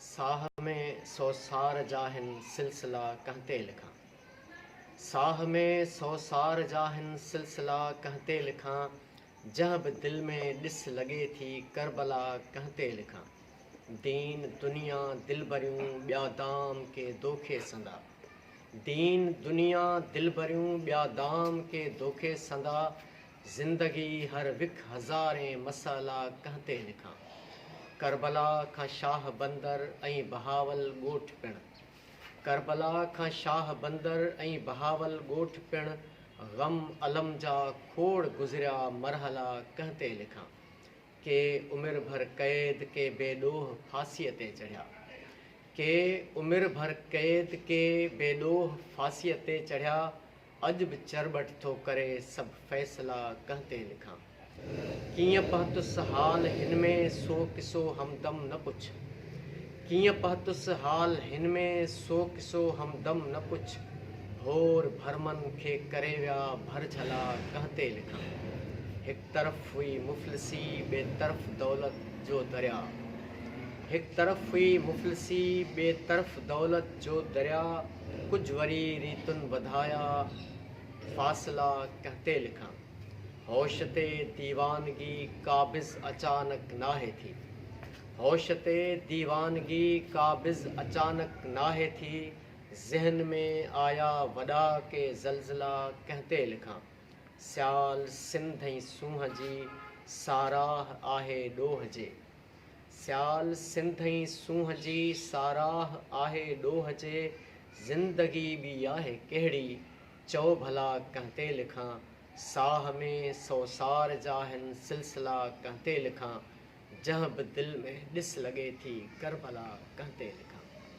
ساھ ۾ سوسار جا ھن سلسلا ڪنھن تي لکان؟ ساھ ۾ سوسار جا ھن سلسلا ڪنھن تي لکان؟ جنھن به دل ۾ ڏس لڳي ٿي ڪربلا ڪنھن تي لکان؟ دين دنيا دلبريون ٻيا دام ڪي دوکي سندا دين دنيا دلبريون ٻيا دام ڪي دوکي سندا زندگي هر وک هزارين مسئلا ڪنهن تي لکان. ڪربلا کان شاهه بندر ۽ بهاول ڳوٺ پڻ ڪربلا کان شاهه بندر ۽ بهاول ڳوٺ پڻ غم الم جا کوڙ گذريا مرحلا ڪنهن تي لکان. ڪي عمر ڀر قيد ڪي بي ڏوهه ڦاسيء تي چڙهيا ڪي عمر ڀر قيد ڪي بي ڏوهه ڦاسيء تي چڙهيا اڄ به چرٻٽ ٿو ڪري سڀ فيصلا ڪنهن تي لکان ڪيئن پهتس حال هن ۾ سو قصو همدم نه پڇ ڪيئن پهتس حال هن ۾ سو قصو همدم نه پڇ ڀور ڀرمن کي ڪري ويا ڀر جهلا ڪنهن تي لکان هڪ طرف هئي مفلسي ٻئي طرف دولت جو درياء هڪ طرف هئي مفلسي ٻئي طرف دولت جو درياء ڪجهه وري ريتن وڌايا، فاصلا ڪنهن تي لکان؟ هوش تي ديوانگي قابض اچانڪ ناهي ٿي. هوش تي ديوانگي قابض اچانڪ ناهي ٿي، ذهن ۾ آيا وڏا ڪي زلزلا ڪنهن تي لکان؟ سيال سنڌ ۽ سونهن جي ساراهه آهي ڏوهه جي. سيال سنڌ ۽ سونهن جي ساراهه آهي ڏوهه جي زندگي ٻي آهي ڪهڙي چئو ڀلا ڪنهن تي لکان ساهه ۾ سوسار جاهن سلسلا ڪنهن تي لکان جنهن به دل ۾ ڏس لڳي ٿي ڪربلا ڪنهن تي لکان.